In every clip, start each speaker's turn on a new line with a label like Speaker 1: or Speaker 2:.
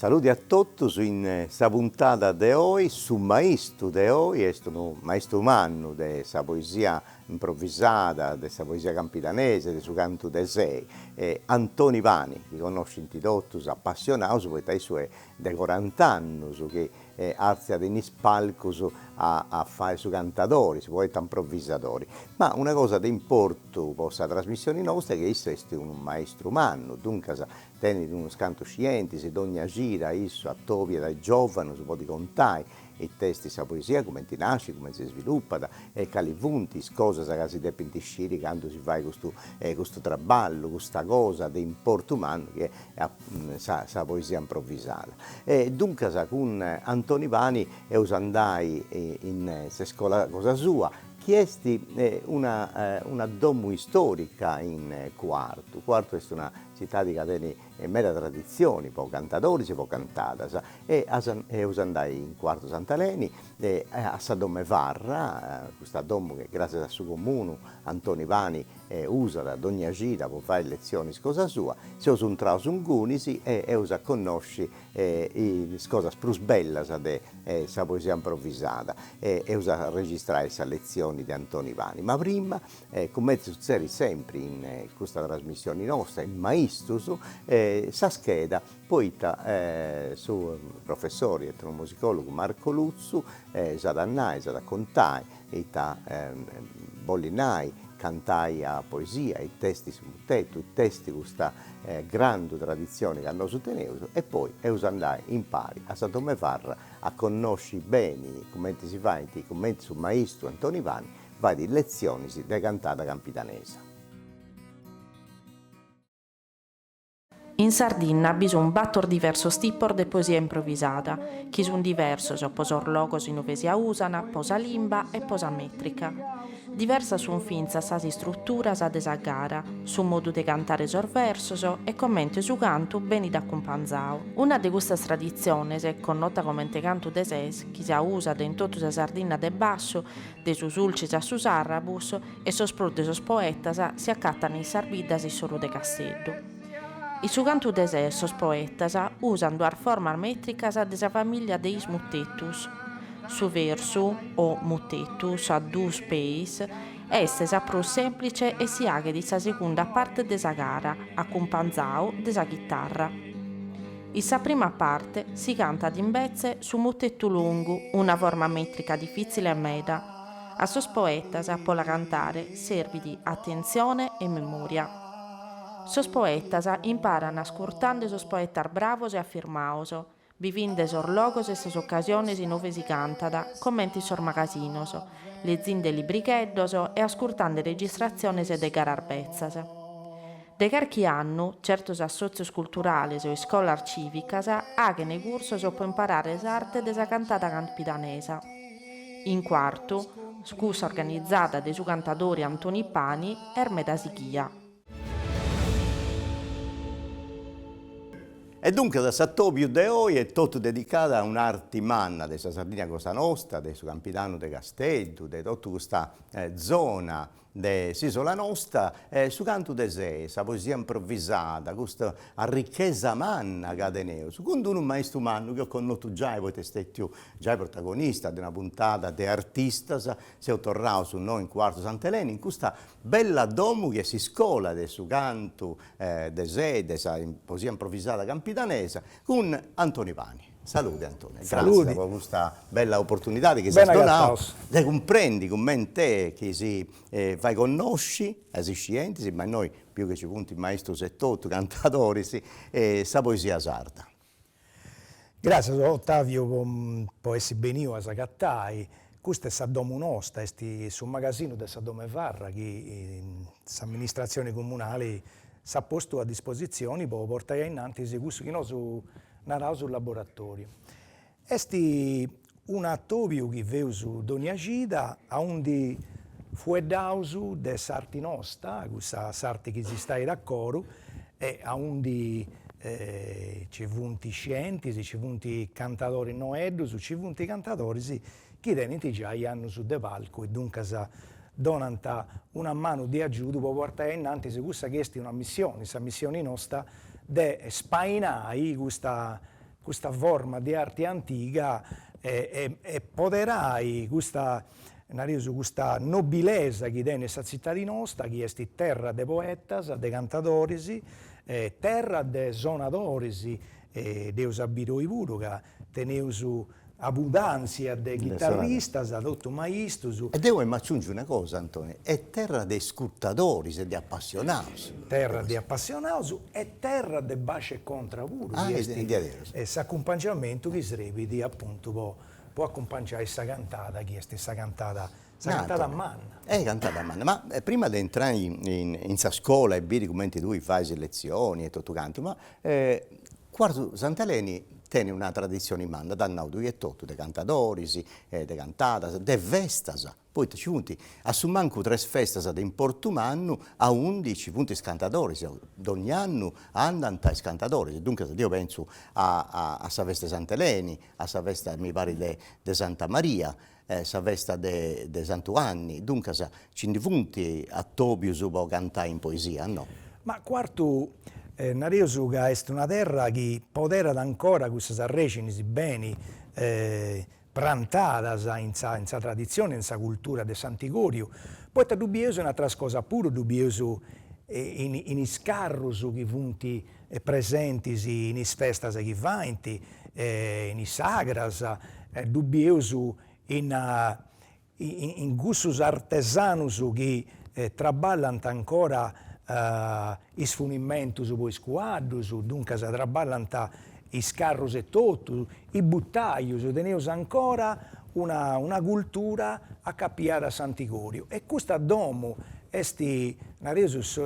Speaker 1: Saludi a totus in sa puntada de oi, su maistu de oi est unu maistu mannu de sa poesia improvisada, de sa poesia campidanese, de su cantu de sei, Antoni Pani, chi connoscint totus apassionaus poita issu est de corant'annus chi artziat in is palcus a a fai su cantadori, su poeta improvisadori. Ma una cosa de importu po sa trasmissioni nostra est chi issu est unu maistru mannu, duncas Tenit unus cantus scientis e dogna cida issu atobiat a is giòvanus po ddi contai ita est sa poesia, cumenti nascit, cumenti si svilupat e cali funt is cosas ca si depint sciri candu si fait custu custu traballu, custa cosa de importu mannu chi est sa sa poesia improvisada. E duncas cun Antoni Pani eus a andai in s'iscola cosa sua chi est una una domu istorica in Cuartu. Cuartu est una Tzitadi ca tenit meda traditzioni po cantadoris e po cantadas e eus a andai in Cuartu Sant'Aleni a sa Domu 'e Farra, custa domu chi gràssias a su Comunu Antoni Pani usat dogna cida po fai letzionis cosa sua, seus intraus ingunis e eus a connosci is cosas prus bellas de sa poesia improvisada e eus a registrai sa letzioni de Antoni Pani. Ma prima E cumenti sutzerit sempri in custa trasmissioni nosta, in Maistus, sa scheda, poita su professori etnomusicologu Marco Lutzu s'at a nai, s'at a contai, ita bolit nai cantai a poesia, ita esti su mutetu, ita esti custa grandu traditzioni ca nosu teneus e poi eus a andai impari a sa Domu 'e Farra a connosci beni cumenti si faint, cumenti su maistu Antoni Pani Fait letzionis de cantada
Speaker 2: campidanesa. In Sardinna bi sun bator diversos tipos de poesia improvisada, chi sun diversos po sos logos in ue si ausana, po sa limba e po sa mètrica. Diversas sun fintzas sas istruturas de sa gara, su modu de cantare sos versos e comente su cantu benit acumpanzadu. Una de custas traditziones, connota comente cantu de ses, chi si ausat in totu sa Sardinna de bassu, De su Sulcis a su Sarrabus e sos prus de sos poetas si acatan in sas biddas in s'oru de Casteddu. In su cantu de ses sos poetas usan duas formas mètricas de sa famìllia de is mutetus. Su versu, o mutetus a duus peis, est sa prus sèmplice e si aghet in sa segunda parte de sa gara, acumpanzadu de sa chitarra. In sa prima parte si cantat imbetzes su mutetu longu, una forma mètrica difìtzile meda. A sos poetas po la cantare serbit atentzione e memòria. Sos poetas imparan ascurtande sos poetas bravos e afirmaos, bivinde sos logos e sas ocasiones inuve si cantat, comente in sos magasinos, lezinde libricheddos e ascurtande registratziones de garas betzas. De carchi annu, certos assòtzios culturales o iscolas cìvicas aghent cursos po imparare s'arte de sa cantada campidanesa. In Quartu, cussa organizada de su cantadori Antoni Pani est meda
Speaker 1: sighia. E duncas s'atòbiu de oi est totu dedicadu a un'arte manna de sa Sardigna cosa nosta, de su Campidanu de Casteddu, de totu custa zona de s'Isola nosta, su cantu de sei, sa poesia improvvisada, custa arrichesa manna ca teneus, cun d-unu maistu mannu chi eus connotu giai poita est stetiu giai protagonista de una puntada de Artistas, seus torraus innoi in Cuartu Sant'Eleni, in custa bella domu chi est s'iscola de su cantu de sei, de sa poesia improvvisada campidanesa, cun Antoni Pani. Saludi Antonio e gràssias po custa bella oportunidade chi s'est donadu de cumprendi cumenti chi si fait connosci a is iscientis, ma innoi biu chi nci funt maistus etotu, cantadoris, sa poesia sarda.
Speaker 3: Gràssias Otaviu po essi beniu a s'agatai, custa est sa domu nosta, est su magasinu de sa domu 'e farra chi s'amministratzioni comunali s'at postu a dispositzioni po portai ainnantis cussu chi nosu naraus su laboratoriu. Est unu atobiu chi feus dònnia cida aundi fueddaus de s'arti nosta, cussa s'arti chi si stait a coru e aundi ci funt scientis, ci funt cantadoris noeddus, ci funt cantadoris chi tenint giai annus de palcu e duncas donant una manu de agiudu po portai a in antis cussa chi est una missioni, sa missioni nosta de spainai custa custa forma de arti antiga e e e poderai custa, nareus, custa nobilesa chi tenit sa tzitadi nosta chi est terra de poetas, de cantadoris, terra de sonadoris e dd'eus a biri oi puru ca teneus abudàntzia de chitarristas, totu maistus. E deu emu a aciungi
Speaker 1: una cosa Antoni, est terra de iscurtadoris e de apassionaus. Terra
Speaker 3: de apassionaus e terra de bàsciu e contra puru, est s'acumpangiamentu chi srebit apuntu po acumpangiai sa cantada chi est sa cantada Sa cantada manna. E sa cantada manna,
Speaker 1: ma prima de intrai in sa scola e biri cumenti tui fais letzioni e totu cantu, ma Cuartu Sant'Eleni tenit una traditzioni manna, dd'as nau tui etotu, de cantadoris e de cantadas, de festas, poita ci funt a su mancu tres festas de importu mannu aundi ci funt is cantadoris, donni'annu andant is cantadoris, duncas deu pentzu a sa festa 'e Sant'Eleni, a sa festa mi parit de Santa Maria e sa festa de de Santu Anni, duncas ci ndi funt atobius po cantai in poesia, no? Ma Cuartu,
Speaker 3: nareus ca est una terra chi poderat ancora cussas arrèxinis beni prantadas in sa in sa traditzioni e in sa cultura de s'antigòriu, poita ddu bieus in ateras cosas puru, ddu bieus in in is carrus chi funt presentis in is festas chi faint, in is sagras, ddu bieus in in cussus artesanus chi traballant ancora is funimentus po is cuaddus, duncas traballant is carrus etotu, is buttaius, teneus ancora una una cultura acapiada a s'antigoriu e custa domu est, nareus,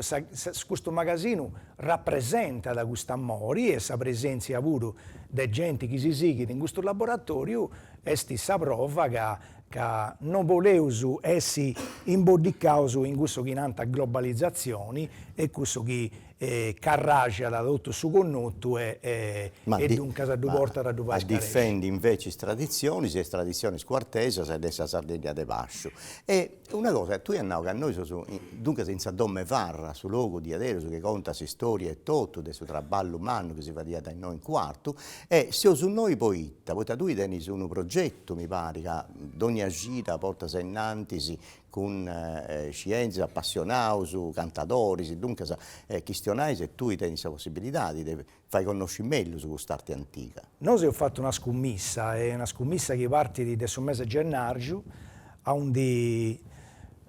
Speaker 3: custu magasinu Rapresentat cust'amori e sa presèntzia puru de genti chi si sighit in custu laboratòriu est sa prova ca ca no boleus essi imboddicaus in cussu chi nant globalizatzioni e cussu chi carraxat totu su connotu e e duncas si portat a ddu fai scaresci. Difendit inveci is
Speaker 1: traditzionis e is traditzionis cuartesas e de sa Sardigna de Basciu e Una cosa, tui as nau ca nosu seus duncas in sa domu 'e Farra, su logu diaderus chi contat s'istòria etotu de su traballu mannu chi si fadiat innoi in Cuartu, e seus innoi poita, poita tui tenis unu progetu, mi parit, ca dònnia cida portas a innantis cun scientis, apassionaus, cantadoris, duncas chistionais e tui tenis sa possibilidadi de Fai connosci mellus cust'arte antiga. Nosu eus fatu
Speaker 3: una scummissa, est una scummissa chi partit de su mesi 'e gennàrgiu, aundi,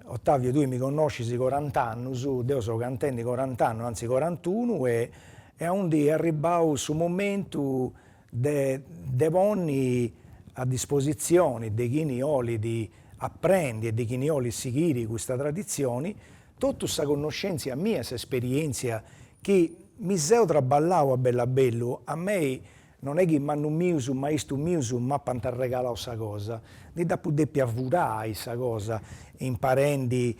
Speaker 3: Ottavio, tui mi connoscis corant'annus, deu seu cantendi corant'annus, antzis corantunu, e e aundi est arribbau su momentu de de ponni a dispositzioni de chini 'olit aprendi e de chini 'olit sighiri custa traditzioni, Totu sa connoscèntzia mia e s'esperièntzia chi mi seu traballau a bellu a bellu, a mei, non est chi mannus mius, maistus mius m'apant arregalau sa cosa, ndi dd'apu dèpia furai sa cosa, imparendi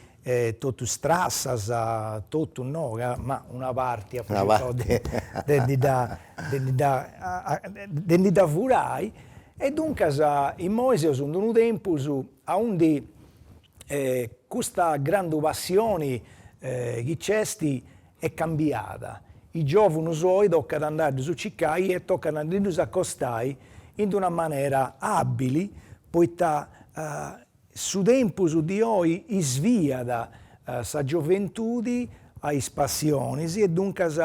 Speaker 3: totu strassas, totu no, ca ma una parti apu circau de de ndi dda de ndi dda de ndi dda furai e duncas immoi seus in d'unu tempus aundi E custa grandu passioni chi c'est est cambiada. Is giovunus oi tocat a andai a ddus circai e tocat a ndi ddus acostai in d'una manera abili poita su tempus di oi isviat sa gioventudi a is passionis e duncas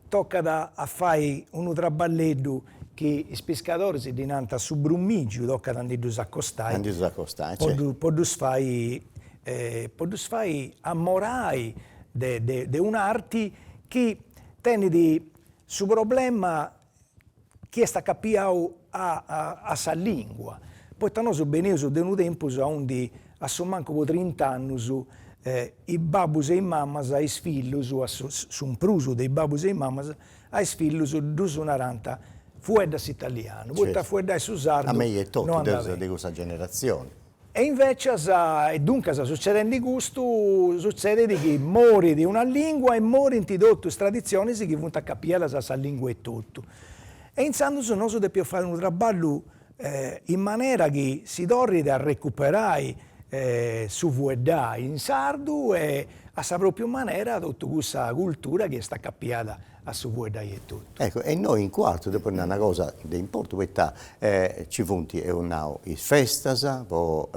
Speaker 3: tocat a fai unu traballeddu chi is piscadoris ddi nant su brumìgiu, tocat a ndi ddus acostai, po ddus fai po ddus fai amorai de un'arti chi tenit su problema chi est acapiau a a sa lìngua, poita nosu beneus de unu tempus aundi a su mancu po trint'annus is babbus e is mamas a is fillus a su prus de is babbus e is mamas a is fillus ddus narant fuedda s'italianu, poita a fueddai su sardu no andat beni.
Speaker 1: Deu
Speaker 3: seu
Speaker 1: de cussa
Speaker 3: generazioni
Speaker 1: E
Speaker 3: invècias, e duncas sutzedendi custu, sutzedet chi morit una lìngua e morint totu is traditzionis chi funt acapiadas a sa lìngua etotu. E intzandus nosu depeus fai unu traballu in manera chi si torrit a recuperai su fueddai in sardu e a sa pròpriu manera totu cussa cultura chi est acapiada a su fueddai etotu. Ecco, e innoi in
Speaker 1: Cuartu depu nai una cosa de importu, poita ci funt, eus nau, is festas po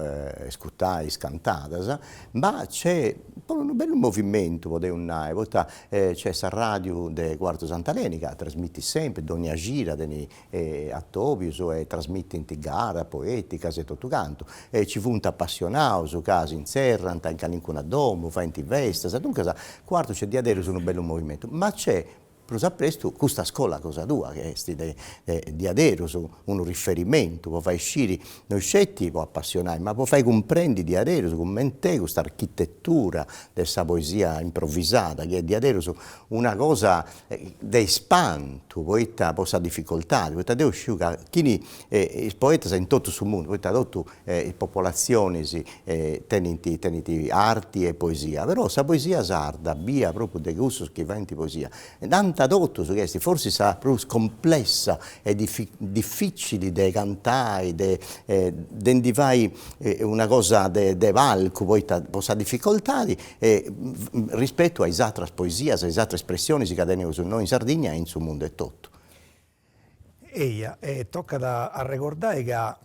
Speaker 1: iscutai is cantadas, ma nc'est puru unu bellu movimentu, podeus nai, poita nc'est s'arradiu de Cuartu Sant'Aleni ca trasmitit sempri, dònnia cida tenit e atòbios e trasmitint gara, poèticas e totu cantu, e ci funt apassionados ca si intzerrant in calincuna domu, faint festas, duncas Cuartu nc'est diaderus unu bellu movimentu, ma nc'est prus a prestu custa scola cosa tua chi est de diaderus unu riferimentu po fai sciri no sceti po apassionai ma po fai cumprendi diaderus cumenti est custa architetura de sa poesia improvvisada chi est diaderus una cosa de ispantu poita po sa dificoltadi, poita deu sciu ca chini is poetas in totu su mundu, poita totu is popolatzionis tenint tenint arti e poesia, però sa poesia sarda bia propriu de cussus chi faint poesia nant totus chi est forsis sa prus complessa e difficili de cantai de de ndi fai una cosa de de palcu poita po sa dificoltadi e rispetu a is atras poesias, a is atras espressionis ca teneus nos in Sardigna e in su mundu etotu. Eia, e
Speaker 3: tocat a arregordai ca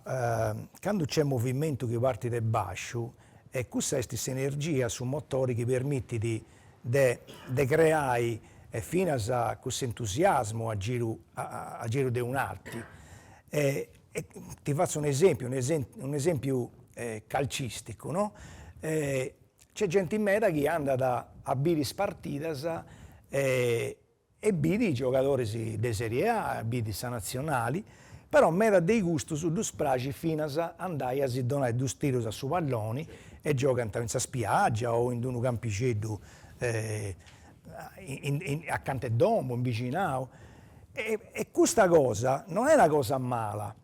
Speaker 3: candu nc'est movimentu chi partit de basciu, e cussa est s'energia, su motori chi permitit de de creai e finas cuss'entusiasmu a giru a giru de un'arti. E ti fatzu un'esempiu, un'esempiu calcisticu no C'est genti meda chi andat a biri is partidas e biri giogadoris de Serie A, biri sa natzionali, però meda de i custus ddus praxit finas a andai a si donai dus tirus a su palloni e giogant in sa spiaggia o in unu campixeddu acanta 'e domu, in bixinau. E custa cosa non est una cosa mala,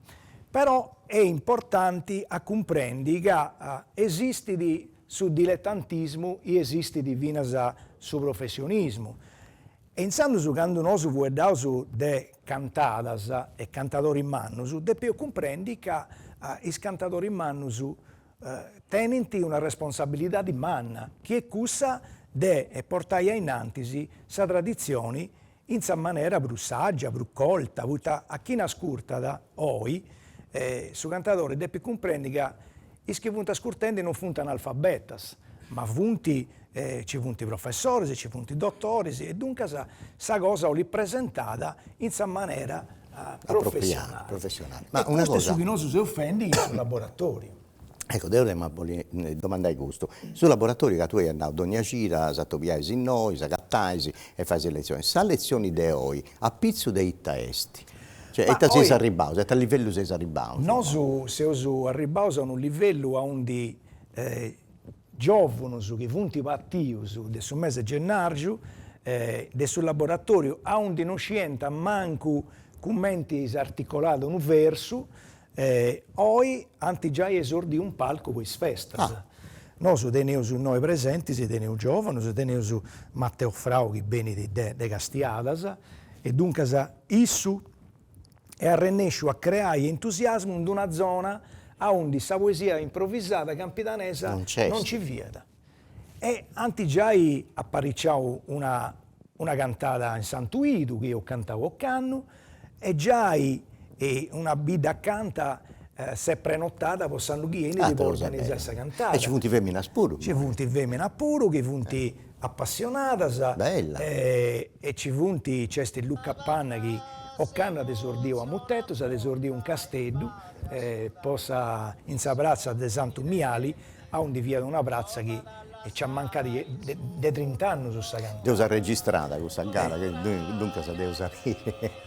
Speaker 3: Però est importanti a cumprendi ca esistit su diletantismu e esistit finas su professionismu. E intzandus candu nosu fueddaus de cantadas e cantadoris mannus depeus cumprendi ca is cantadoris mannus tenint una responsabilidadi manna chi est cussa de portai ainnantis sa traditzioni in sa manera prus sàgia, prus colta, poita a chini ascurtat oi su cantadori depit cumprendi ca is chi funt ascurtendi non funt analfabetas, ma funt nci funt professoris, nci funt dotoris e duncas sa cosa 'olit presentada in sa manera professionali. E custu
Speaker 1: est su chi nosu seus fendi in
Speaker 3: su laboratoriu Ecco
Speaker 1: deo t'emu a bolli domandai custu, su laboratoriu ca tui iast nau dogna cida s'atobiais innoi, s'agatais e fais is letzioni, sa letzioni de oi apitzu de ita est? Cioè a ita seis arribbaus, a ita livellu seis arribbaus? Nosu seus
Speaker 3: arribbaus a unu livellu aundi giovunus chi funt partius de su mesi 'e gennàrgiu de su laboratoriu aundi no scìant mancu cumenti s'articolat unu versu E oi ant giai esordiu in palcu po is festas. Nosu teneus innoi presentis, teneus giovanus, teneus Matteo Frau chi benit de de Castiadas e duncas issu est arrennesciu a creai entusiasmu in d'una zona aundi sa poesia improvisada campidanesa non nci fiat. E ant giai apariciau una una cantada in Santu 'Idu, chi eus cantau ocannu, e giai una bidda acanta s'est prenotada po s'annu chi 'enit po organizai sa cantada. E nci funt feminas
Speaker 1: puru. Nci funt
Speaker 3: feminas puru chi funt apassionadas.
Speaker 1: Bella. E
Speaker 3: nci funt, nc'est Luca Panna chi ocannu at esordiu a mutetus, at esordiu in Casteddu, po sa in sa pratza de Santu Miali aundi fiat una pratza chi nci amancàt de trint'annus sa cantada. Dd'eus arregistrada
Speaker 1: cussa gara, duncas dd'eus a.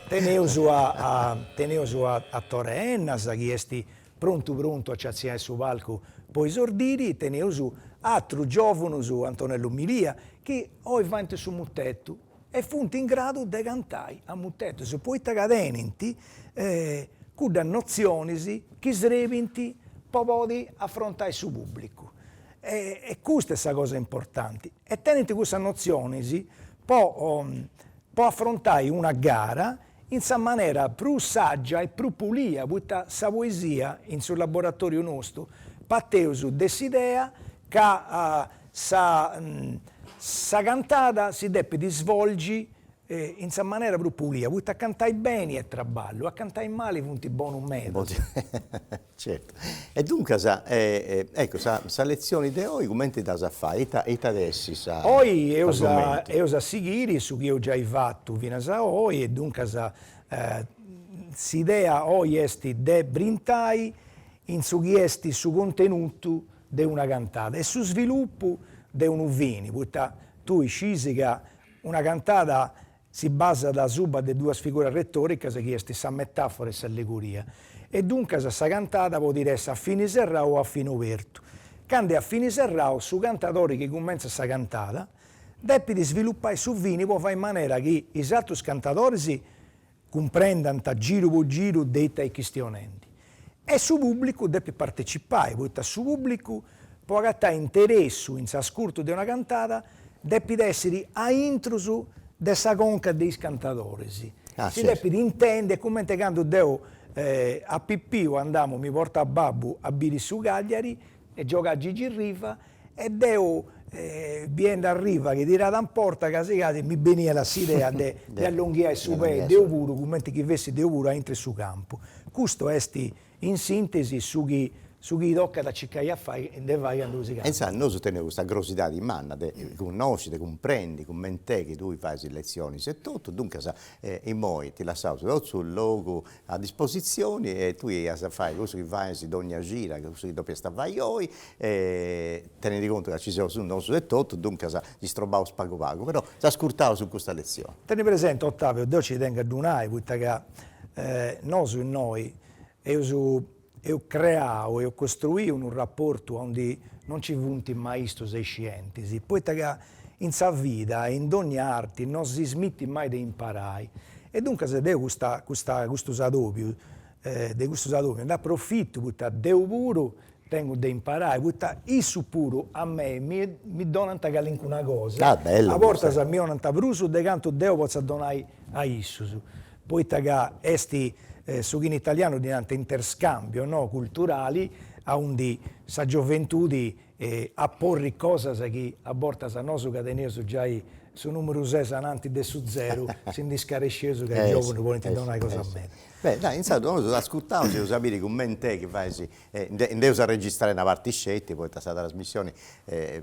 Speaker 1: Teneus a
Speaker 3: teneus a Tore Ennas chi est prontu prontu a ci artziai su palcu po esordiri e teneus atrus giovunus, Antonellu Milia, chi oi faint su mutetu, e funt in gradu de cantai a mutetus, poita ca tenint cuddas notzionis chi srebint po podi afrontai su pubblicu e custa est sa cosa importanti e tenint cussas notzionis po afrontai una gara in sa manera prus sàgia e prus pulia, poita sa poesia, in su laboratòriu nostu, parteus de s'idea ca sa sa cantada si depit isvolgi in sa manera prus pulia, poita a cantai beni est traballu, a cantai mali funt bonus medas.
Speaker 1: Certu. E duncas, ecco, sa sa letzioni de oi cumenti dd'as a fai? Ita ita at essi sa Oi eus a
Speaker 3: eus a sighiri su chi eus giai fatu finas a oi e duncas s'idea oi est de brintai in su chi est su contenutu de una cantada e su svilupu de unu fini, poita tui scis ca una cantada Si basat asuba de duas figuras retòricas chi est sa metàfora e s'allegoria, e duncas sa cantada podit essi a fini serrau o a fini obertu. Candu est a fini serrau, su cantadori chi cumentzat sa cantada depit isvilupai su fini po fai in manera chi is atrus cantadoris cumprendant giru po giru de ita est chistionendi. E su pùblicu depit partecipai, poita su pùblicu, po agatai interessu in s'ascurtu de una cantada, depit èssiri a intrus de sa conca de is cantadoris, si depit
Speaker 1: intendi, est
Speaker 3: cumenti candu deu a pipiu andamu, mi portàt babbu a biri su Cagliari, e giogàt Gigi Riva e deu biendi a Riva chi tiràt in porta casi casi mi beniat s'idea de de allonghiai su pei deu puru cumenti chi fessi deu puru aintru 'e su campu. Custu est in sintesi su chi su chi tocat a circai a fai de fai candu si E insaras nosu teneus
Speaker 1: custa crosidadi manna de connosci, de cumprendi cument'est chi tui fais is letzionis e totu, duncas immoi ti lassaus totu su logu a dispositzioni e tui as a fai cussu chi fais dogna cira, chi cussu chi depiast fai oi e tenindi contu ca ci seus nosu etotu, duncas s'istrobbaus pagu pagu, però s'ascurtaus in custa letzioni. Teni presenti
Speaker 3: Ottavio, deu ci tengu a ddu nai, poita ca nosu innoi eus Eus creau, eus costruiu unu raportu aundi non ci funt maistus e iscientis, poita ca in sa vida e in dònnia arti non si smitit mai de imparai. E duncas deu custa custa custus adòbius de custus adòbius nd'aprofitu poita deu puru tengu de imparai, poita issus puru a mei mi mi donant calincuna cosa, a bortas mi
Speaker 1: 'onant
Speaker 3: prus de cantu deu potza donai a issus. poita ca est su chi in italianu ddi nant interscambio, no, culturali, aundi sa gioventudi aporrit cosas chi a bortas a nosu ca teneus giai su numeru ses ananti de su zeru si ndi scaresceus ca is giòvunus podint donai cosas meda. Beh, dai, intzandus
Speaker 1: nosu t'ascurtaus e eus a biri cument'est chi fais, nd'eus a registrai una parti sceti poita sa trasmissioni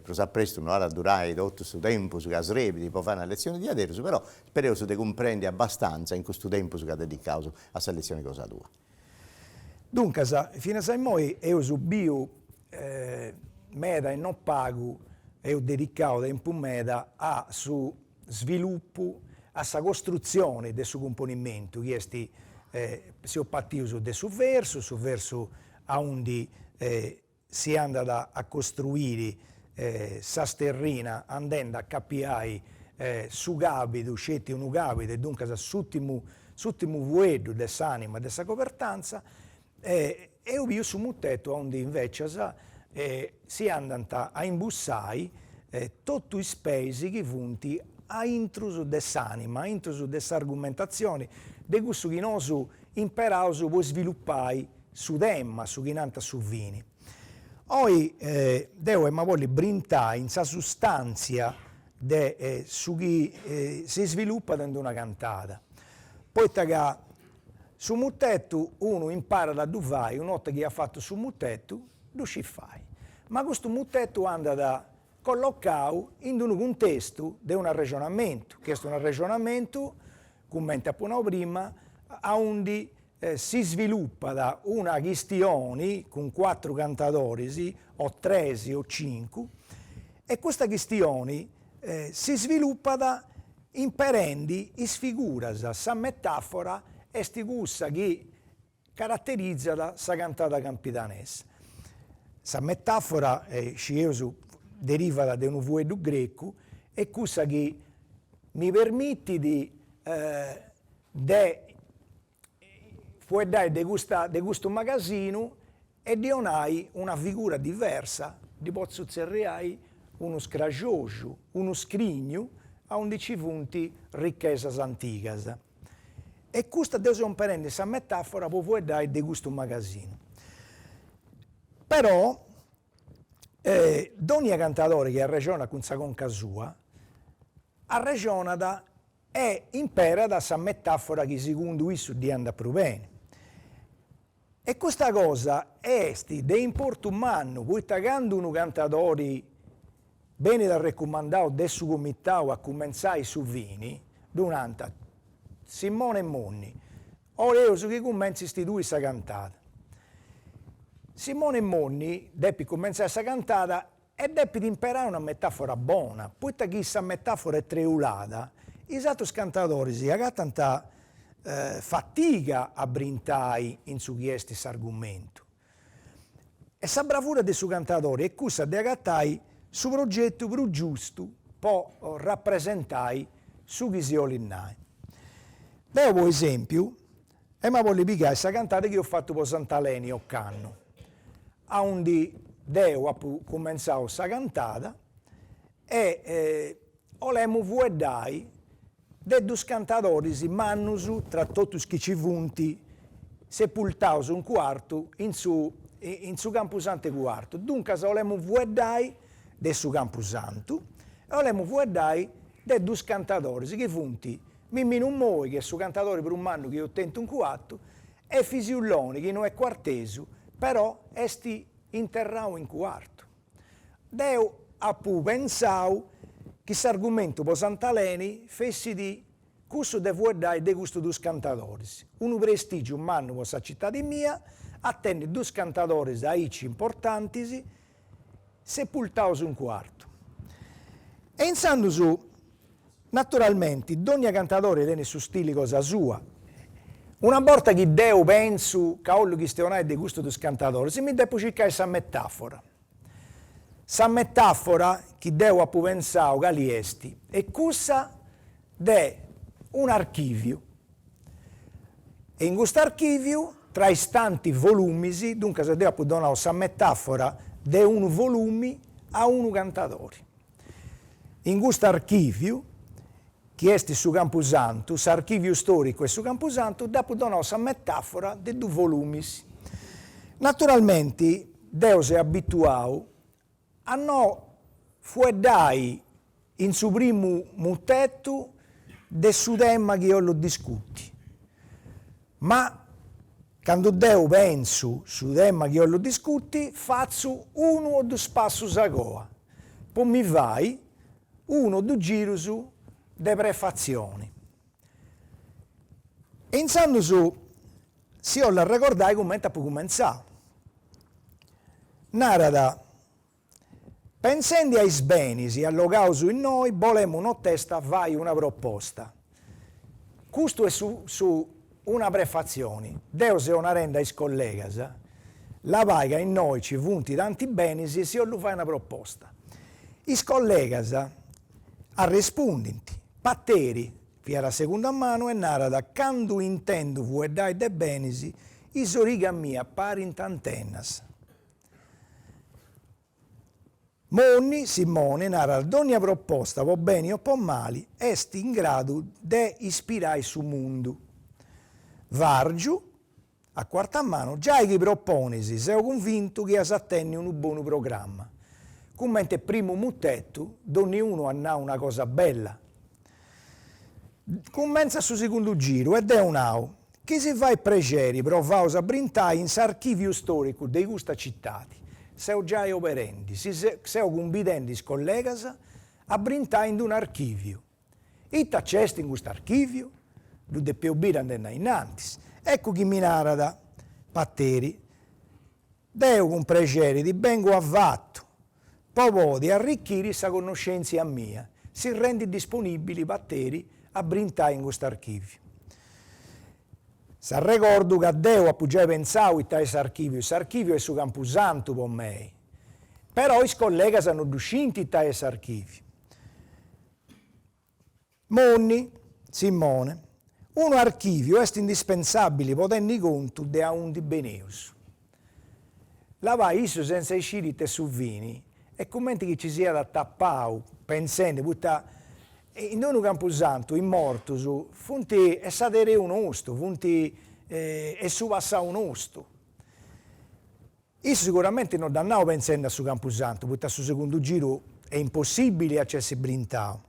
Speaker 1: prus a prestu no at a durai totu su tempus ca srebit po fai una letzioni diaderus, però Spereus de cumprendi abbastantza in custu tempus chi dedicaus a sa letzioni cosa
Speaker 3: tua. Duncas, finas a immoi eus biu meda e non pagu eus dedicau tempus meda a su svilupu, a sa costrutzioni de su cumponimentu chi est, seus patius de su versu, su versu aundi si andat a costruiri sa sterrina andendi a capiai su cabidu, sceti unu cabidu e duncas su s'ùtimu fueddu de s'anima de sa cobertanza e eus biu su mutetu aundi invecias si andant a imbussai totu is peis chi funt aintrus de s'anima, aintrus de s'argumentazioni de cussu chi nosu imperaus po isvilupai su tema, su chi nant a su fini. Oi deu emu a bolli brintai in sa sustantzia de su chi si svilupat in d'una cantada, poita ca su mutetu unu imparat a ddu fai una 'orta chi at fatu su mutetu ddu scit fai, ma custu mutetu andat collocau in d'unu cuntestu de un arrexonamentu, chi est un arrexonamentu, cumenti apo nau prima, aundi si svilupat una chistioni cun cuatru cantadoris o tres o cincu e custa chistioni si svilupat imperendi is figuras, sa metafora est cussa chi caraterizat sa cantada campidanesa. Sa metafora scieus derivat de unu fueddu grecu est cussa chi mi permitit de fueddai de custu magasinu e ddi 'onai una figura diversa, ddi potzu tzerriai unu scraxoxu, unu scrignu, aundi nci funt richesas antigas. E custa deu seu imperendi sa metafora po fueddai de custu magasinu. Però dònnia cantadori chi arrexonat cun sa conca sua, arrexonat E imperat sa metàfora chi segundu issu ddi andat prus beni. E custa cosa est de importu mannu poita candu unu cantadori benit arrecumandau de su comitau a cumentzai su fini, ddi nant, Simone Monni, 'oleus chi cumenzist tui sa cantada. Simone Monni depit cumentzai sa cantada E depit imperai una metàfora bona, poita chi sa metàfora est treulada, is atrus cantadoris agatant fatiga a brintai in su chi est s'argumentu. E sa bravura de su cantadori est cussa de agatai su sogetu prus giustu po rapresentai su chi si 'olit nai. Deu po esempiu Emu a bolli pigai sa cantada chi eus fattu po Sant'Aleni ocannu, aundi deo apu cumentzau sa cantada e 'olemu fueddai de dus cantadoris mannus tra totu is chi ci funt sepultaus in Cuartu in su in su campusantu 'e Cuartu, duncas 'olemu fueddai de su campusantu e 'olemu fueddai de dus cantadoris chi funt Mimminu Moi, chi est su cantadori prus mannu chi eus tentu in Cuartu, e Fisiu Loni, chi no est cuartesu, però est interrau in Cuartu. Deu apu pensau chi s'argumentu po Sant'Aleni fessit cussu de fueddai de custus duus cantadoris, unu prestìgiu mannu po sa citadi mia, a tenni duus cantadoris aici importantis, Sepultaus in Cuartu. E intzandus, naturalmenti, dònnia cantadori tenit su stili cosa sua. Una borta chi deu pentzu ca 'ollu chistionai de custus dus cantadoris, mi depu circai sa metàfora. Sa metàfora chi deu apu pentzau cali est? Est cussa de un archìviu, E in custu archìviu tra is tanti volumis, duncas deu apu donau sa metàfora de unu volumi a unu cantadori. In custu archìviu, chi est su campusantu, s'archìviu stòricu est su campusantu, deu apu donau sa metàfora de dus volumis. Naturalmenti deu seu abituau A no fueddai in su primu mutetu de su tema chi 'ollu discuti. Ma candu deu pensu su tema chi 'ollu discuti fatzu unu o dus passus a goa po mi fai unu o dus girus de prefatzioni e intzandus si 'ollu arregordai cumenti apu cumentzau, narat, Pensendi a is benis allogaus innoi bolemu notesta fai una proposta. Custu est su su una prefatzioni, deu seu narendi a is collegas, labai ca innoi nci funt tanti benis si 'ollu fai una proposta. Is collegas arrespundint, Pateri, Fiat a segunda manu e narat, candu intendu fueddai de benis, is origas mias parint antenas. Moni, Simone, narat, dònnia proposta, po beni o po mali, est in gradu de ispirai su mundu. Vàrgiu, A cuarta manu, giai chi proponis seu cunvintu chi as a tenni unu bonu programma. Cumenti primu mutetu, donniunu at nau una cosa bella. Cumentzat su segundu giru e deu nau, chi si fait prexeri provaus a brintai in s'archìviu storicu de custa citadi. Seu giai oberendi, si seu cumbidendi is collegas a brintai in d'unu archìviu. Ita nc'est in custu archìviu? Ddu depeu biri andendi innantis. Eccu chi mi narat, Pateri, deu cun prexeri ti bengu avatu po podi arrichiri sa connoschèntzia mia. Si rendit disponìbili, Pateri, a brintai in custu archìviu. S'arregordu ca deu apu giai pensau ita est s'archìviu. S'archìviu est su campusantu po mei. Però is collegas no ddu scint ita est s'archìviu. Monni, Simone. Unu archìviu est indispensàbili po tenni contu de aundi beneus. Labai issu senza isciri ita est su fini est cumenti chi ci siat atapau pensendi poita in d'unu campusantu is mortus funt est s'ereu nostu, funt est su passau nostu. Issu siguramenti no dd'at nau pensendi a su campusantu, poita a su segundu giru est impossìbili a nci essi brintau.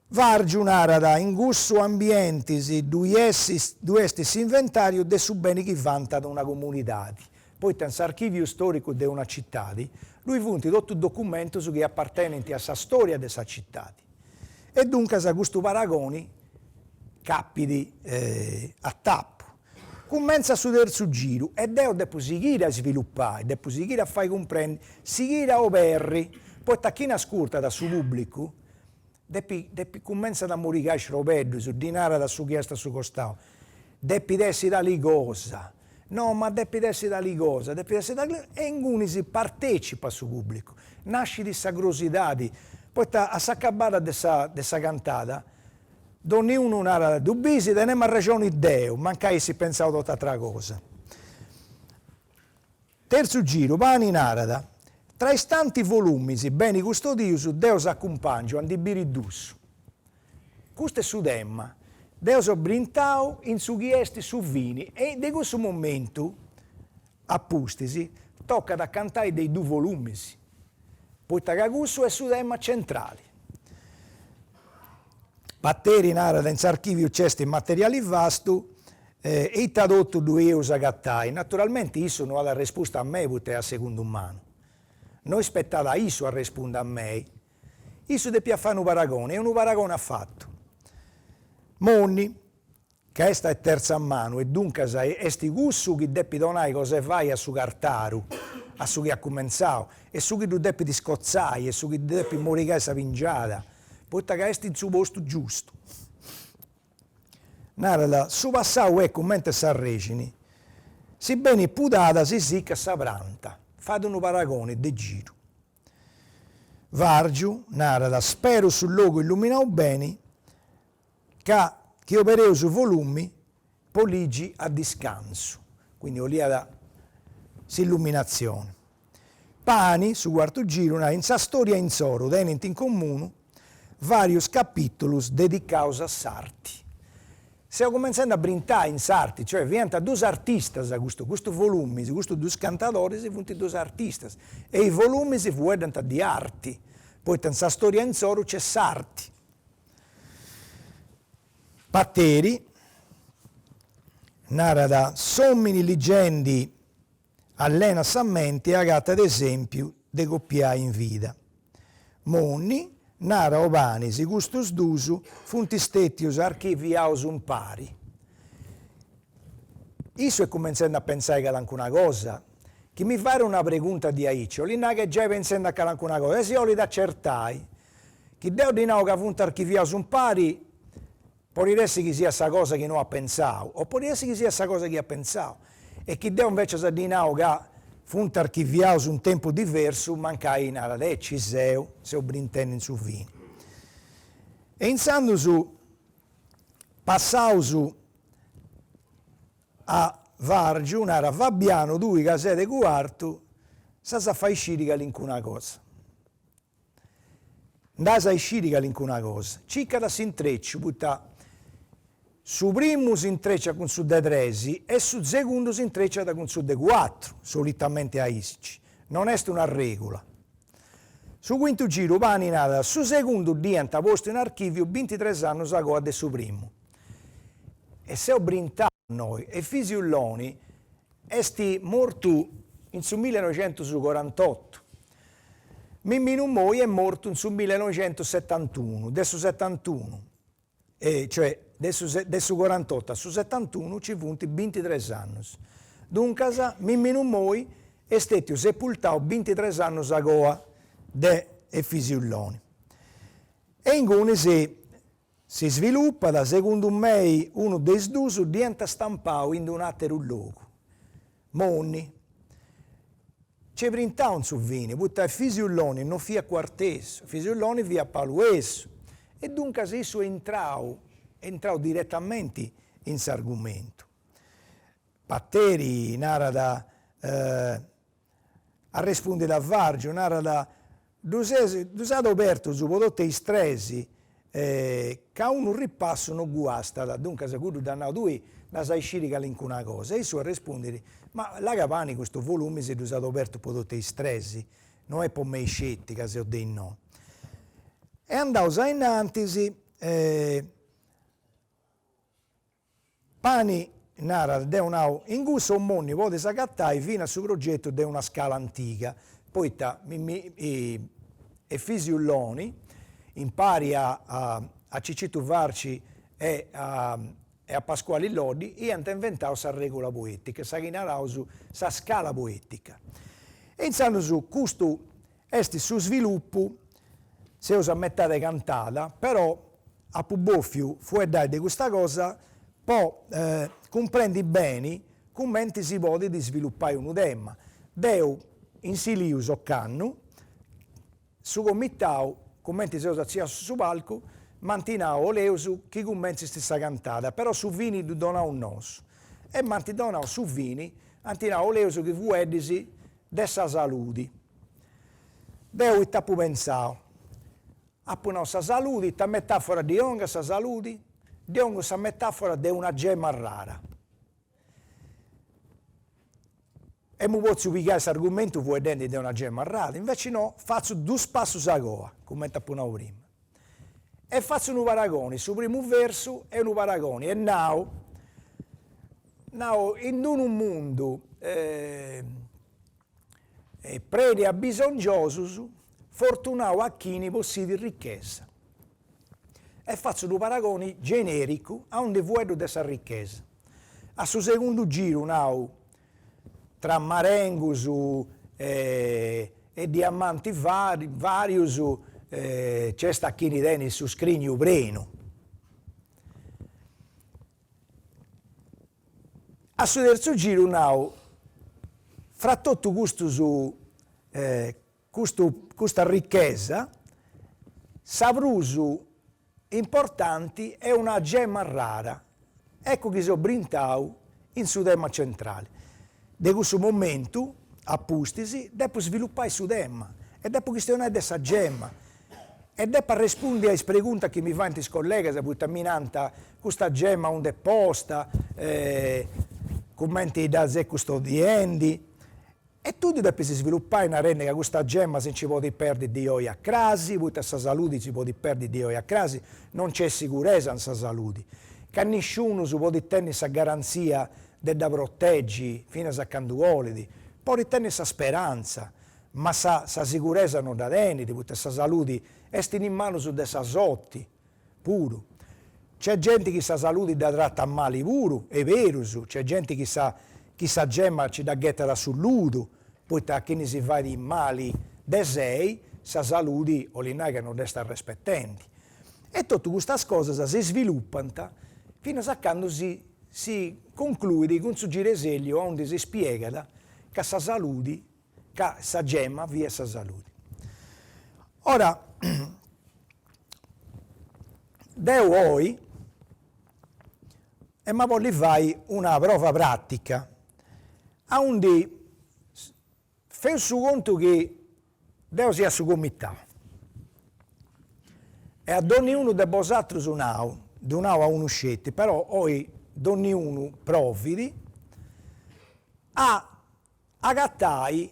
Speaker 3: Vàrgiu narat, In cussu ambienti ddui est s'inventàriu de su beni chi vantat una comunidadi, poita in s'archìviu stòricu de una citadi ddui funt totu is documentus chi apartenint a sa stòria de sa citadi. E duncas custu paragoni capit a tapu. Cumentzat su terzu giru e deo depu sighire a isvilupai, depu sighire a fai cumprendi, sighire a oberri, poita chini ascurtat a su pubblicu depit depit cumentzai a morigai is robeddus, ddi narat a su chi est a su costau, depit essi tali cosa, no ma depit essi tali cosa, depit essi tali cosa, e ingunis partecipat su pubblicu, nascit sa crosidadi, poita a s'acabada de sa de sa cantada Donniunu narat ddu bisi, tenemu arrexoni deu, mancai essit pentzau tot'atera cosa. Terzu giru, Pani narat, Tra is tanti volumis beni custodius, deu si acumpàngiu a ndi biri dus. Custu est su tema. Deu seu brintau in su chi est su fini e de cussu momentu A pustis tocat a cantai de is dus volumis, poita ca cussu est su tema centrali. Pateri narat, in s'archiviu nc'est materiali vastu e ita totu ddu eus agatai. Naturalmenti issu no at arrespustu a mei poita est de segunda manu. No ispetat a issu arrespundi a mei. Issu depiat fai unu paragoni e unu paragoni at fatu. Monni, ca est de tertza manu e duncas est cussu chi depit donai cosa 'e fai a su cartaru, a su chi at cumentzau, e su chi ddu depit scotzai e su chi depit morigai sa pingiada, poita ca est in su postu giustu. Narat, su passau est cumenti a s'arrexini, si benit pudada si sicat sa pranta, fait unu paragoni de giru. Vàrgiu narat, speru su logu illuminau beni, ca chi obereus su volumi po ligi a discansu, quindi 'oliat s'illuminatzioni. Pani, su cuartu giru, narat, In sa storia insoru tenint in comunu varius capitulus dedicaus a s'arti. Seu cumentzendi a brintai in s'arti, cioè fiant dus artistas custus, custus volumis, custus dus cantadoris funt dus artistas e is volumis fueddant di arti, poita in sa storia insoru nc'est s'arti. Pateri narat, s'òmini ligendi allenat sa menti e agatat esèmpiu de copiai in vida. Monni narat o Pani si custus duus funt stètius archiviaus umpari. Issu est cumentzendi a pentzai calancuna cosa, chi mi fait una pregunta diaici 'olit nai chi est giai pentzendi a calancuna cosa e si 'olit acertai Chi deu ddi nau ca funt archiviaus umpari, podit essi chi siat sa cosa chi no at pentzau, o podit essi chi siat sa cosa chi at pentzau, e chi deu invecias ddi nau ca funt archiviaus in tempus diversu, mancai narat, e ci seu, seu brintendi in su fini. E intzandus passaus a Vargiu, narat, Fabianu tui ca ses de Cuartu, s'as a fai sciri calincuna cosa. Nd'as a isciri calincuna cosa. Circat s'intreciu, poita su primu s'intreciat cun su de tres e su segundu s'intreciat cun su de cuatru, solitamente aici, non est una regula. Su quintu giru Pani narat, su segundu dd'iant postu in archiviu bintitres annus a coa de su primu. E seu brintau innoi Efisiu Loni Est mortu in su millenoixentusucorantotu. Mimminu Moi est mortu in su millenoixentusetantunu, de su setantunu, cioè de su de su corantotu a su setantunu nci funt bintitres annus. Duncas Mimminu Moi est stètiu sepultau bintitres annus a coa de Efisiu Loni. E ingunis Si svilupat, segundu mei, unu de is dus dd'iant stampau in d'unu àteru logu. Monni. Nc'est brintau in su fini, poita Efisiu Loni no fiat cuartesu, Fisiu Loni fiat paluesu. E duncas issu est intrau, est intrau diretamenti in s'argumentu. Pateri narat, Arrespundit a Vargiu, narat, Ddus, ddus at obertus po totu is tres, ca unu ripassu no guastat, duncas cuddu dd'at nau, tui nd'as a isciri calincuna cosa. E issu arrespundit, Ma là ca Pani custus volumis ddus at obertus po totu is tres, no est po mei sceti, ca seu de innoi. E andaus ainnantis Pani, narat, deu nau, in cussu o Monni podis agatai finas su progetu de una scala antiga, poita mi mi Efisiu Loni, impari a a Cicitu Farci e a e a Pascuali Loddi, iant inventau sa regula poetica, sa chi naraus sa scala poetica. E intzandus custu Est su svilupu, seus a metade cantada, però apu bòfiu fueddai de custa cosa po cumprendi beni cumenti si podit svilupai unu tema. Deu in Silius ocannu, su comitau, cumenti seus atziaus in su palcu, m'ant nau, 'oleus chi cumentzis sa cantada, però su fini ddu donaus nosu. E m'ant donau su fini, ant nau, 'oleus chi fueddis de sa saludi. Deu ita apu pentzau, apu nau sa saludi, ita metafora ddi 'ongu a sa saludi, ddi 'ongu sa metafora de una gemma rara. Emu potziu pigai s'argumentu fueddendi de una gemma rara, inveci no, fatzu dus passus a goa, cumenti apu nau prima. E fatzu unu paragoni, su primu versu est unu paragoni e nau, nau, in unu mundu prenu 'e abisongiosus, fortunau a chini possidit ricchesa. E fatzu unu paragoni genericu aundi fueddu de sa ricchesa. A su segundu giru nau, tra marengus e diamantis varius, nc'est a chini tenit su scrignu prenu. A su terzu giru nau, fra totu custus custu custa ricchesa, sa prus importanti est una gemma rara, eccu chi so brintau in su tema centrali. De cussu momentu a pustis depu svilupai su tema e depu chistionai de sa gemma e depu arrespundi a is preguntas chi mi faint is collegas poita mi nant custa gemma undi est posta, cumenti dda ses custodiendi E tui ddus depis svilupai narendi ca custa gemma si nci podit perdi di oi a crasi, poita sa saludi si podit perdi di oi a crasi, non nc'est siguresa in sa saludi, ca nisciunus podit tenni sa garanzia de dda protegi finas a candu bolit, podit tenni sa speranza, ma sa siguresa no dda tenit, poita sa saludi est in is manus de sa sorti. puru. C'est genti chi sa saludi dda tratat mali puru, est berus, c'est genti chi sa gemma ci dda ghetat a su ludu, poita a chini si fait mali de sei, sa saludi 'olit nai ca no dd'est arrespetendi. E totu custas cosas si svilupant finas a candu si concluit cun su giresèlliu aundi si spiegat ca sa saludi ca sa gemma fiat sa saludi. Ora deu oi ema bolli fai una prova pratica, aundi feu su contu chi deu sia su comitau e a donniunu de bosatrus nau, ddu nau a unu sceti, però oi donniunu provit a Agatai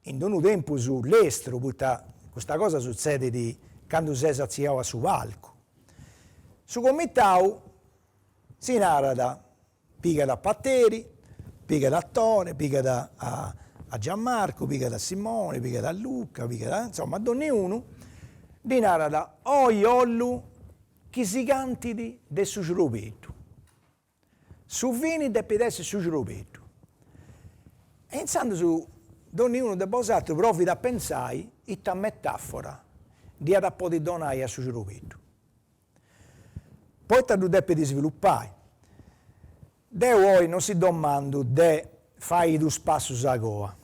Speaker 3: in unu tempus lestru, poita custa cosa sutzedit candu ses atziau a su palcu. Su comitau, si narat, pigat a Pateri, pigat a Tore, pigat a Giammarcu, pigat a Simoni, pigat a Luca, pigat a, insoma, a donniunu, ddi narat, oi 'ollu chi si cantit de su cirobeddu. Su fini depit essi su cirobeddu. E intzandus donniunu de bosatrus provit a pentzai ita metafora dd'iat a podi donai a su cirobeddu, poita ddu depit isvilupai. Deu oi non si domandu de fai is dus passus a goa.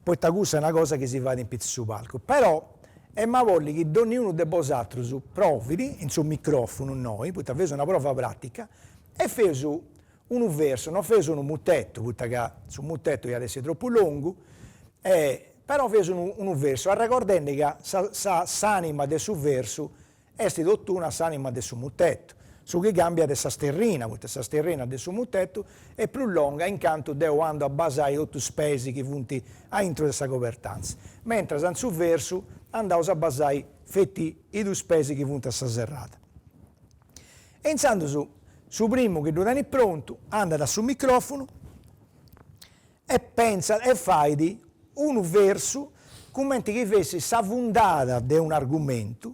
Speaker 3: poita cussa est una cosa chi si fait in pitzus su palcu, però em'a bolli chi donniunu de bosatrus provit in su microfunu innoi, poita feus una prova pratica, e feus unu versu, non feus unu mutetu, poita ca su mutetu iat essi tropu longu, però feus unu unu versu, arregordendi ca sa sa s'anima de su versu Est totuna a s'anima de su mutetu, su chi cambiat est sa sterrina, poita sa sterrina de su mutetu est prus longa in cantu deu andu a basai totu is peis chi funt aintru de sa cobertantza, mentras in su versu andaus a basai feti is dus peis chi funt a sa serrada. E intzandus su primu chi ddu tenit prontu andat a su microfunu E pentzat e fait unu versu cumenti chi fessit sa fundada de un'argumentu,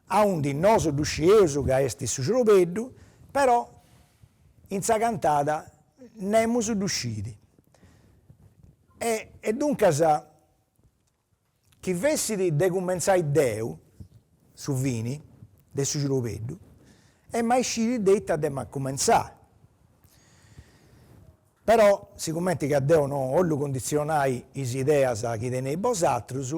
Speaker 3: aundi nosu ddu scieus ca est su cirobeddu, però in sa cantada nemus ddu scit. E e duncas Chi fessit de cumentzai deu su fini de su cirobeddu em'a isciri de ita dd'em'a cumentzai. Però, sigumenti ca deu no 'ollu cunditzionai is ideas chi teneis bosatrus,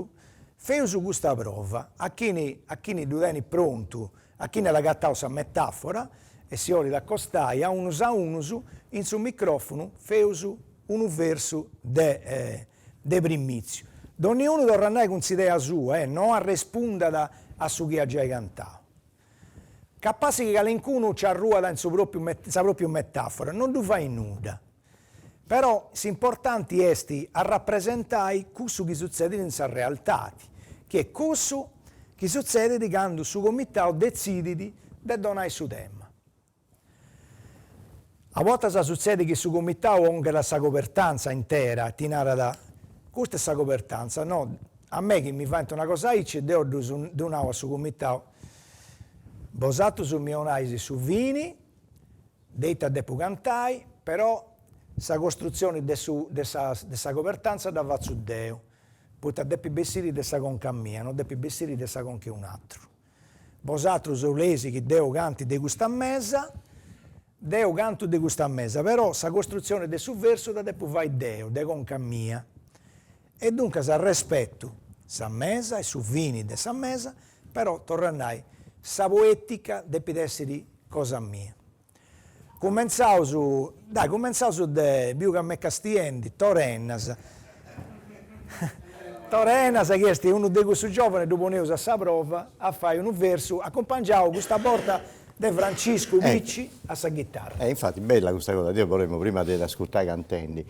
Speaker 3: feus custa prova, a chini a chini ddu tenit prontu, a chini at agatau sa metafora e si 'olit acostai a unus a unus in su microfunu feus unu versu de De primìtziu, donniunu torrat nai cun s'idea sua e no arrespundat a su chi at giai cantau. Capassi chi calincunu nci arruat in sa pròpiu metàfora, no ddu fait nudda. Però s'importanti est arrapresentai cussu chi sutzedit in sa realtadi, chi est cussu chi sutzedit candu su comitau detzidit de donai su tema. A bortas sutzedet chi su comitau onghet a sa cobertanza intera, ti narat, custa est sa cobertanza, no, a mei chi mi faint una cosa aici, deo ddus ddu nau a su comitau, bosatrus mi 'onais su fini, de ita depu cantai, però sa costrutzioni de su de sa de sa cobertanza dda fatzu deu, poita depit bessiri de sa conca mia, no depit bessiri de sa conca 'e un'atru. Bosatrus 'oleis chi deu canti de custa mesa, deu cantu de custa mesa, però sa costrutzione de su versu dda depu fai deu, de conca mia. E duncas respetu sa mesa e su fini de sa mesa, però, torru a nai, sa poetica depit essi cosa mia. Cumentzaus, dai cumentzaus de, biu ca m'est castiendi, Tore Ennas, Tore Ennas chi est unu de cussus giòvanes ddu poneus a sa prova a fai unu versu acumpangiau custa borta de Franciscu Picci a sa ghitarra. E infati bella custa cosa,
Speaker 1: deu 'olemu prima de dd'ascurtai cantendi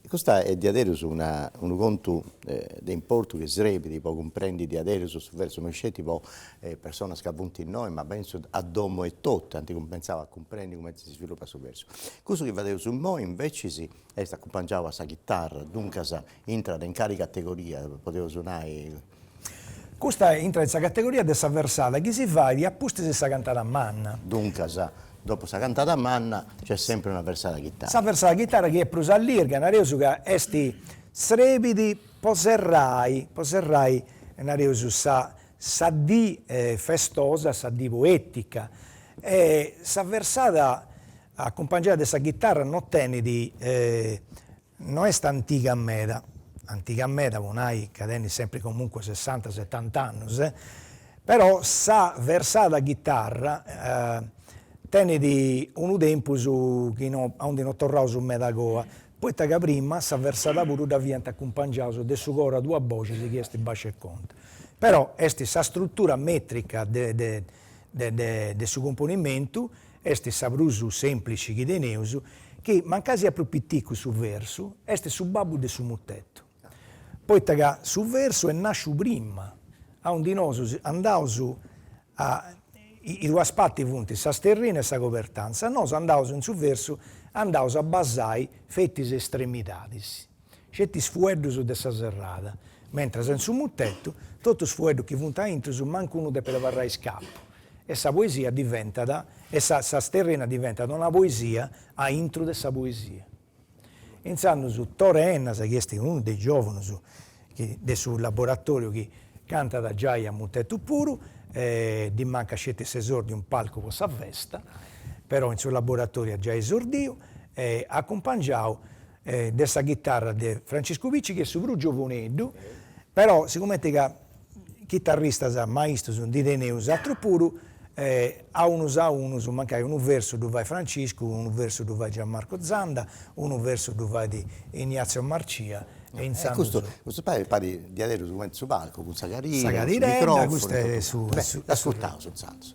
Speaker 1: Custa est diaderus unu contu de importu chi srebit po cumprendi diaderus su versu no sceti po is personas ca funt innoi ma pentzu a domo etotu ant cumentzau a cumprendi cumenti si svilupat su versu. Cussu chi fadeus immoi inveciis est acumpangiau a sa chitarra, duncas intrat in cali categoria, podeus nai Custa
Speaker 3: intrat in sa categoria de sa versada chi si fait a pustis de sa cantada manna. Duncas,
Speaker 1: dopu sa cantada manna nc'est sempri una versada chitara. Sa versada chitara chi est
Speaker 3: prus allirga, nareus ca est srebit po serrai, po serrai, nareus, sa sa dì festosa, sa dì poetica. E sa versada acumpangiada de sa chitara non tenit No est antiga meda, antiga meda po nai ca tenit sempri comunque sessanta setanta annus, però sa versada chitarra tenit unu tempus chi no a undi no torraus meda a coa, poita ca prima sa versada puru dda fiant acumpangiaus de su coro a duas boxis chi est bàsciu e contra. Però est sa strutura metrica de de de su componimentu Est sa prus sèmplici chi teneus, chi, mancai siat prus piticu su versu, est su babbu de su mutetu, poita ca su versu est nàsciu prima, aundi nosus andaus a is duas parti funt sa sterrina e sa cobertanza, nosu andaus in su versu andaus a basai feti is estremidadis, sceti is fueddus de sa serrada, mentras in su mutetu, totu is fueddus chi funt aintrus mancu unu depet abarrai iscàpiu, e sa poesia diventat, e sa sterrina diventat una poesia aintru de sa poesia. Intzandus Tore Ennas, chi est unu de is giòvunus chi de su laboratoriu chi cantat giai a mutetu puru, ddi mancat sceti s'esordiu in palcu po sa festa, però in su laboratoriu at giai esordìu, acumpangiau de sa chitarra de Franciscu Picci chi est su prus giovuneddu, però sigumenti ca chitarristas maistus ndi teneus atrus puru, a unus a unus, mancai unu versu ddu fait Franciscu, unu versu ddu fait Gianmarco Zanda, unu versu ddu fait Ignazio Marcia e intzandus. E custu custu
Speaker 4: pagu parit diaderus cumenti su palcu cun sa cadira, sa cadira, custu est
Speaker 3: su, beh ascurtaus intzandus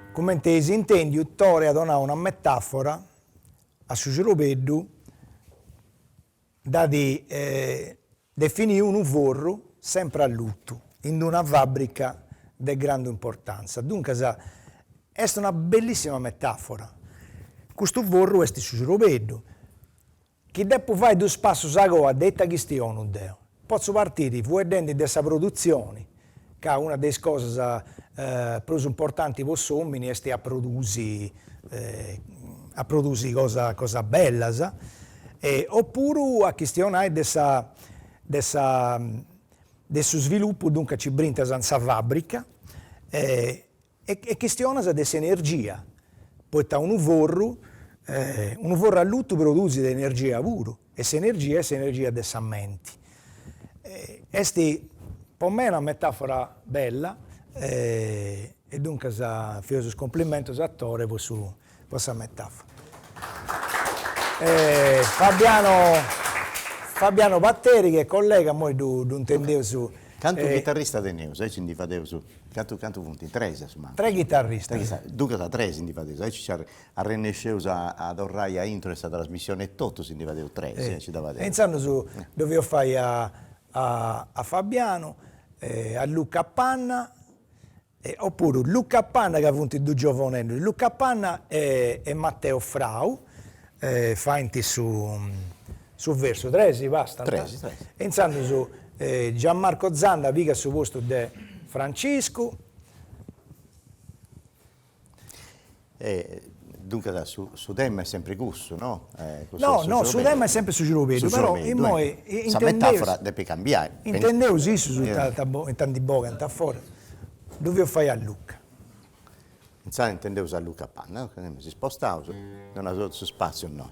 Speaker 3: Comente eis intèndiu, Tore at donau una metàfora a su ciorbeddu, dd'at definiu unu forru sempre allutu in una fàbrica de grandu importantza. Duncas est una bellissima metàfora. Custu forru est su ciorbeddu Chi depu fai duus passus a coa de ita chistionu deu? Potzu partiri fueddendi de sa produtzioni, ca una de is cosas prus importantis po s'omini esti a produsi a produsi cosas cosas bellas e opuru a chistionai de sa de sa de su svilupu, duncas nci brintas in sa fabbrica e E chistionas de s'energia, poita unu forru, unu forru allutu produzit energia puru, e s'energia est s'energia de sa menti. Est po mei una metafora bella e duncas fatzu is cumplimentus a Tore po sa po sa metafora Fabiano Fabiano Patteri chi est collega immoi ddu intendeus Cantu chitarrista
Speaker 4: teneus aici ndi fadeus cantu cantu funt tres a su mancu Tres chitarristas
Speaker 3: Duncas a
Speaker 4: tres ndi fadeus aici nci arrennesceus a torrai a intro 'e sa trasmissioni e totus ndi fadeus tres e aici dda fadeus E intzandus ddu fatzu
Speaker 3: fai a a Fabiano a Luca Panna Opuru Luca Panna ca funt dus giovuneddus, Luca Panna e Matteo Frau faint su versu, tres bastant? Tres tres.
Speaker 4: E
Speaker 3: intzandus Gianmarco Zanda pigat su postu de Franciscu.
Speaker 4: E duncas su tema est sempre cussu, no? No, no,
Speaker 3: su tema est sempre su cirobeddu, però immoi intendeus,
Speaker 4: sa metafora depit cambiai, intendeus issus
Speaker 3: ita ita ndi bogant a foras, ddu feus fai a Luca.
Speaker 4: Insaras intendeus a Luca Panna, no, ca si spostaus, donaus totu su spatziu innoi.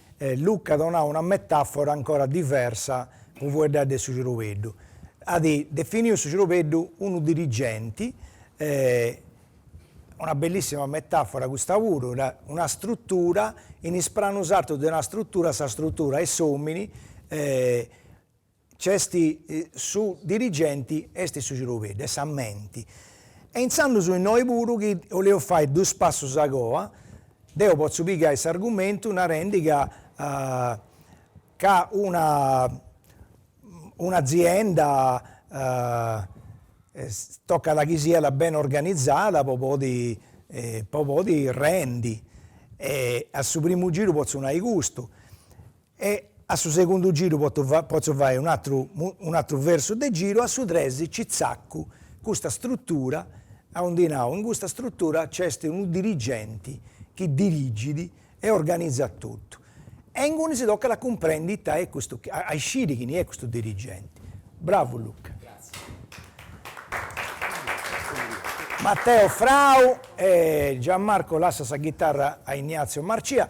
Speaker 3: E Luca at donau una metàfora ancora diversa po fueddai de su cirobeddu. At definiu su cirobeddu unu dirigenti, e una bellissima metàfora custa puru, una strutura, in is pranus artus de una strutura sa strutura est s'omini e Nc'est su dirigenti, est su cirobeddu, est sa menti. E intzandus innoi puru chi 'oleus fai duus passus a goa, deu potzu pigai s'argumentu narendi ca ca una un'azienda tocat chi siat beni organizada po podi po podi rendi e a su primu giru potzu nai custu E a su segundu giru poto potzu fai un'atru un'atru versu de giru, a su tres ci tzaccu custa struttura, aundi nau, in custa struttura nc'est unu dirigenti chi dirigit e organizat totu, e ingunis tocat a cumprendi ita est custu chi, a isciri chini est custu dirigenti. Bravu Luca. Mateo Frau e Gian Marco lassat sa ghitarra a Ignazio Marcia,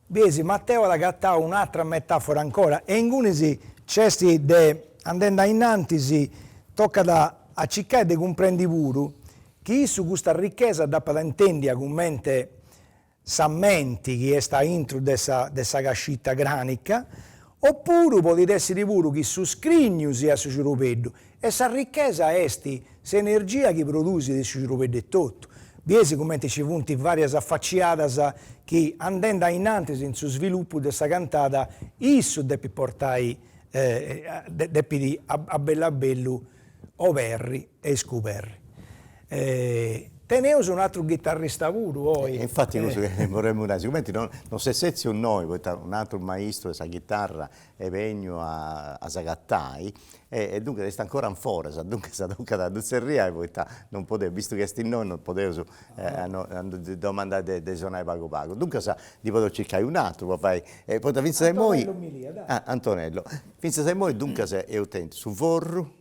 Speaker 3: Biesi, Mateo at agatau un'atra metafora ancora, e ingunis nc'est de, andendi ainnantis, tocat a circai de cumprendi puru, chi issu custa ricchesa dd'apat intendia cumenti sa menti chi est aintru de sa de sa cascita cranica, o puru podit essiri puru chi su scrignu siat su cirubeddu, E sa richesa est s'energia chi produsit su cirubeddu etotu. Biesi cumenti nci funt varias afaciadas chi, andendi ainnantis in su svilupu de sa cantada, issu depit portai depit a bellu a bellu oberri e iscuberri. Teneus un atru ghitarrista puru oi. Infati cussu chi
Speaker 1: boremu nai, sigumenti non s'est setziu innoi, poita un'atru maistu de sa ghitarra est begnu a a s'agatai e e duncas est ancora in foras, duncas tocat a ddu tzerriai poita non podeus, vistu chi est innoi non podeus a no a no ddi domandai de de sonai pagu pagu, duncas ndi podeus circai un'aturu po fai e poita finzas a imoi Antonello mi lia dai Antonello, finzas a imoi duncas eus tentu su forru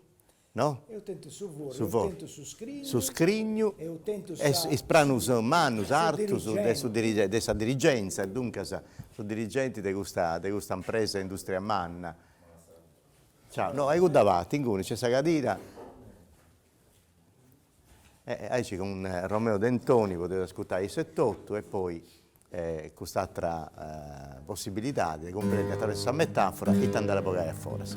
Speaker 1: No? Eus
Speaker 3: tentu su forru,
Speaker 1: eus tentu
Speaker 3: su scrignu, su scrignu
Speaker 1: eus tentu sa,
Speaker 3: e is pranus
Speaker 1: mannus, artus, de su dirigenti, de sa dirigenza, duncas su dirigenti de custa, de custa impresa industria manna. Ciao, no, a cudda parti, inguni nc'est sa cadira. E aici cun Romeo Dentoni podeus ascurtai issu etotu e poi cust'atra possibilidadi de cumprendi atravessu sa metafora ita andaus a bogai a foras.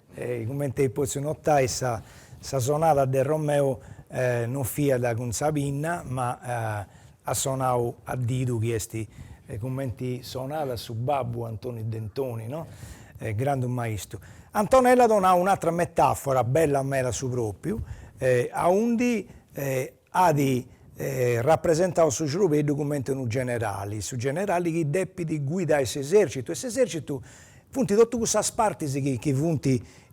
Speaker 3: Cumenti eis pòtziu notai sa sa sonada de Romeu non fiat cun sa pinna ma at sonau a didu chi est cumenti sonat su babbu Antoniu Dentoni no, grandu maistu. Antonella at donau un'atra metafora bella meda a su propriu aundi at rapresentau su cerbeddu cumenti unu generali, su generali chi depit guidai s'esercitu e s'esercitu funt totu cussas partis chi chi funt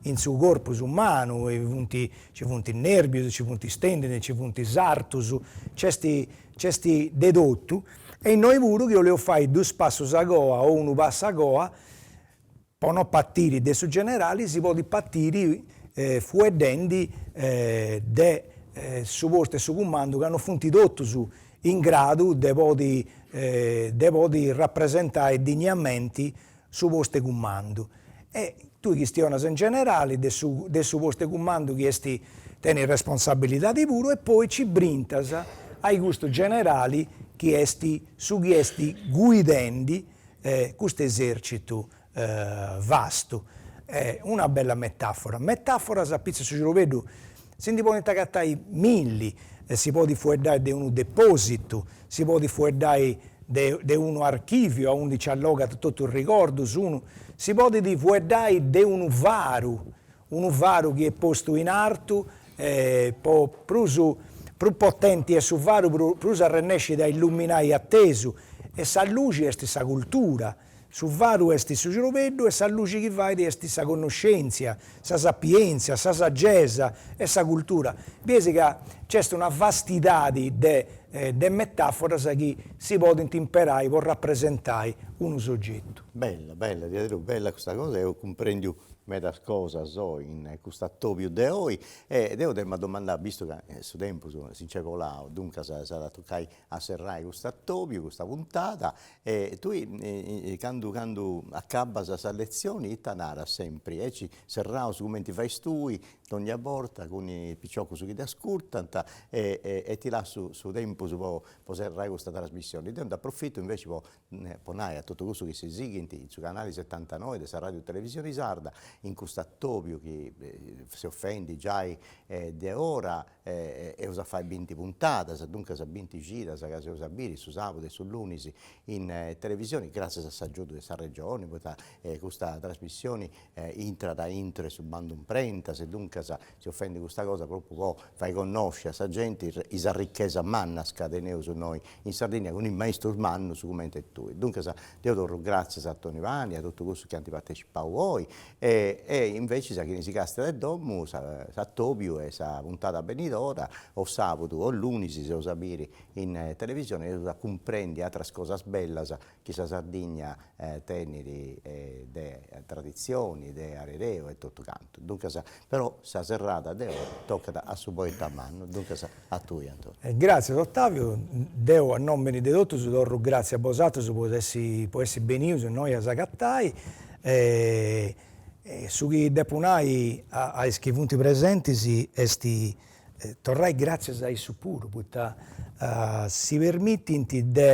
Speaker 3: in su corpus umanu, funt nci funt nerbius, nci funt is tendini, nci funt is artus, nc'est nc'est de totu e innoi puru chi 'oleus fai dus passus a goa o unu passu a goa Po no partiri de su generali si podit partiri fueddendi de su postu 'e su cumandu ca no funt totus in gradu de podi de podi rapresentai digniamenti su postu 'e cumandu. E tui chistionas in generali de su de su postu 'e cumandu chi est tenit responsabilidadi puru e poi nci brintas ai custu generali chi est su chi est guidendi custu esèrcitu vastu. Una bella metàfora. Metàforas apitzus 'e su cirobeddu si ndi podint agatai milli, si podit fueddai de unu depòsitu, si podit fueddai de de unu archìviu aundi nci allogat totus is rigordus, unu si podit fueddai de unu faru, Unu faru chi est postu in artu e prus prus potenti est su faru pru prus arrennescit a illuminai a tesu e sa luxi est sa cultura. Su faru est su cirobeddu e sa luxi chi fait est sa connoscèntzia, sa sapièntzia, sa sagesa e sa cultura. Bieis ca nc'est una vastidadi de de metaforas chi si podint imperai po rapresentai unu sogetu. Bella bella
Speaker 1: diaderus bella custa cosa eus cumprèndiu medas cosas oi in cust'atobiu de oi e deu dd'emu a domandai, vistu ca su tempus si nc'est bolau, duncas s'at a tocai a serrai cust'atobiu, custa puntada e tui candu candu acabbas sas letzioni ita naras sempri, aici serraus cumenti fais tui dònnia borta cun is piciocus chi t'ascurtant e ti lassu su tempus po serrai custa trasmissioni, deu nd'aprofitu inveci po po nai a totu cussu chi si sighint in su canali setantanoi de sa Ràdiu Televisioni Sarda, in custu atobiu chi seus fendi giai de ora eus a fai binti puntadas, duncas binti cidas ca s'eus a biri su sàbudu e su lunis in televisioni, gràssias a s'agiudu de sa Regioni, poita custa trasmissioni intrat a intro 'e su bandu imprentas e duncas seus fendi custa cosa propriu po fai connosci a sa genti is arrichesas mannas ca teneus noi in Sardigna cun is maistus mannus cumenti tui. Duncas deu torru gratzias a Toni Pani e a totu cussus chi ant partecipau oi e invecias a chini si castiat de domu s'atobiu est a sa puntada benidora o sabudu o lunis s'eus a biri in televisioni e eus a cumprendi atras cosas bellas chi sa Sardigna tenit de traditzioni, de arereu e totu cantu, duncas però sa serrada de oi tocat a su poeta mannu, duncas a tui Antonio. Gràtzias Otaviu,
Speaker 3: deu a nòmini de totus torru gràtzias a bosatrus po essi benius innoi a s'agatai e su chi depu nai a is chi funt presentis est torrai gràtzias a issus puru, poita si permitint de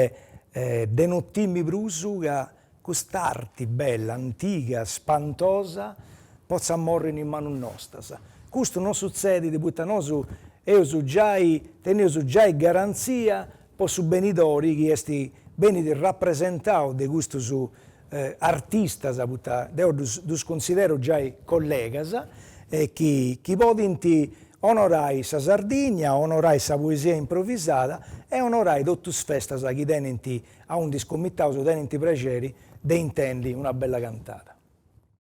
Speaker 3: de no timi prus ca cust'arti bella, antiga, spantosa, potzat morri in is manus nostras. Custu non sutzedit poita nosu eus giai, teneus giai garantzia po su benidori chi est benit rapresentau de custus artistas poita deu ddus cunsideru giai collegas e chi podint onorai sa Sardigna, onorai sa poesia improvisada e onorai totu is festas chi tenint aundi is comitaus tenint prexeri de intendi una bella cantada.